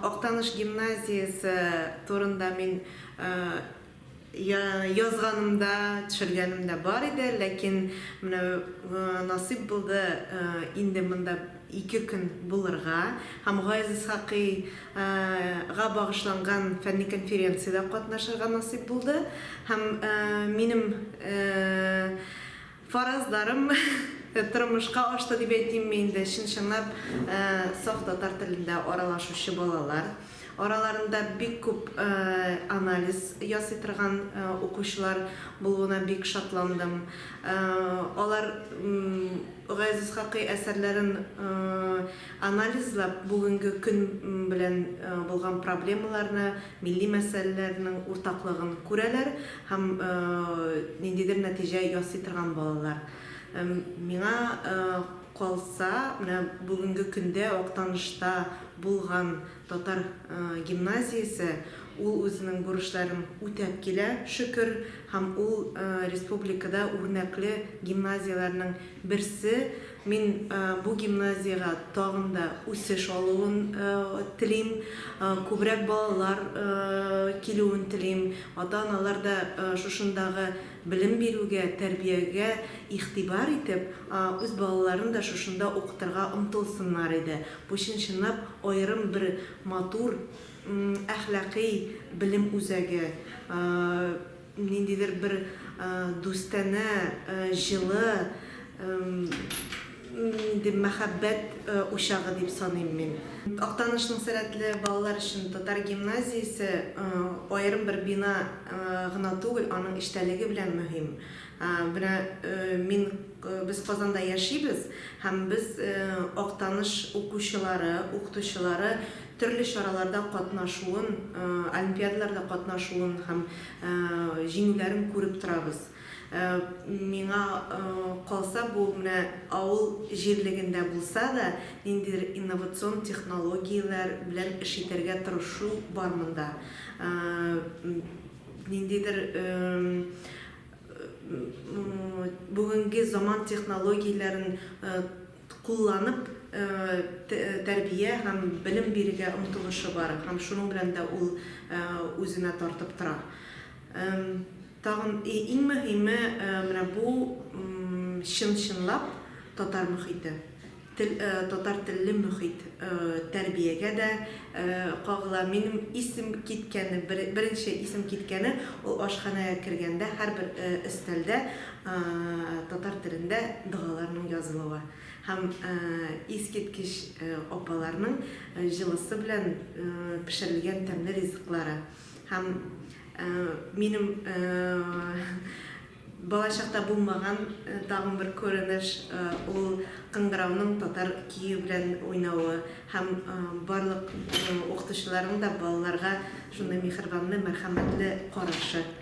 Актаныш гимназиясе турында мин язганым да, төшергәнем дә бар иде, ләкин менә насыйп булды инде монда ике көн булырга һәм Гаяз Исхакый га багышланган фәнни конференциядә катнашырга насыйп булды һәм минем Фаразларым тормышка ашты дип әйтимме инде, чын-чынлап саф татар телендә аралашучы балалар. Араларында бик күп анализ ясый торган укучылар булуына бик шатландым. Алар Гаяз Исхакый әсәрләрен анализлап, бүгенге көн белән булган проблемаларны милли мәсьәләләрнең уртаклыгын күрәләр һәм ниндидер нәтиҗә ясый торган балалар. Миңа калса, менә бүгенге көндә Актанышта булган татар гимназиясе ул үзенең бурычларын үтәп килә, шөкер, һәм ул республикада үрнәкле гимназияләрнең берсе Мин бу гимназиягә тагын да үсеш алуын телим, күбрәк балалар килүен телим. Ата-аналар да шушындагы белем бирүгә, тәрбиягә игътибар итеп, үз балаларын да шушында укытырга омтылсыннар иде. Бу чын-чынлап аерым бер матур әхлакый белем үзәге. Ниндидер бер дустанә, җылы, нинди мәхәббәт учагы дип саныйм мин. Актанышның сәләтле балалар өчен татар гимназиясе аерым бер бина гына түгел, аның эчтәлеге белән мөһим. Менә мин, без Казанда яшибез һәм без Актаныш укучылары, укытучылары төрле чараларда катнашуын, олимпиадаларда катнашуын һәм җиңүләрен күреп торабыз. Миңа калса, бу менә авыл җирлегендә булса да, ниндидер инновацион технологияләр белән эш итәргә тырышу бар монда. Ниндидер бүгенге заман технологияләрен кулланып, тәрбия һәм белем бирергә омтылышы бар һәм шуның белән дә ул үзенә тартып тора. Тагын иң мөһиме, менә бу чын-чынлап татар мөхите, тел, татар телле мөхит тәрбиягә дә кагыла. Минем исем киткәне, беренче исем киткәне, ул ашханәгә кергәндә, һәрбер өстәлдә Татар телендә догаларның язылуы һәм искиткеч апаларның җылысы белән пешерелгән тәмле ризыклары һәм минем балачакта булмаган тагын бер күренеш, ул кыңгырауның татар көе белән уйнавы һәм барлык укытучыларның да балаларга шундый миһербанлы, мәрхәмәтле карашы.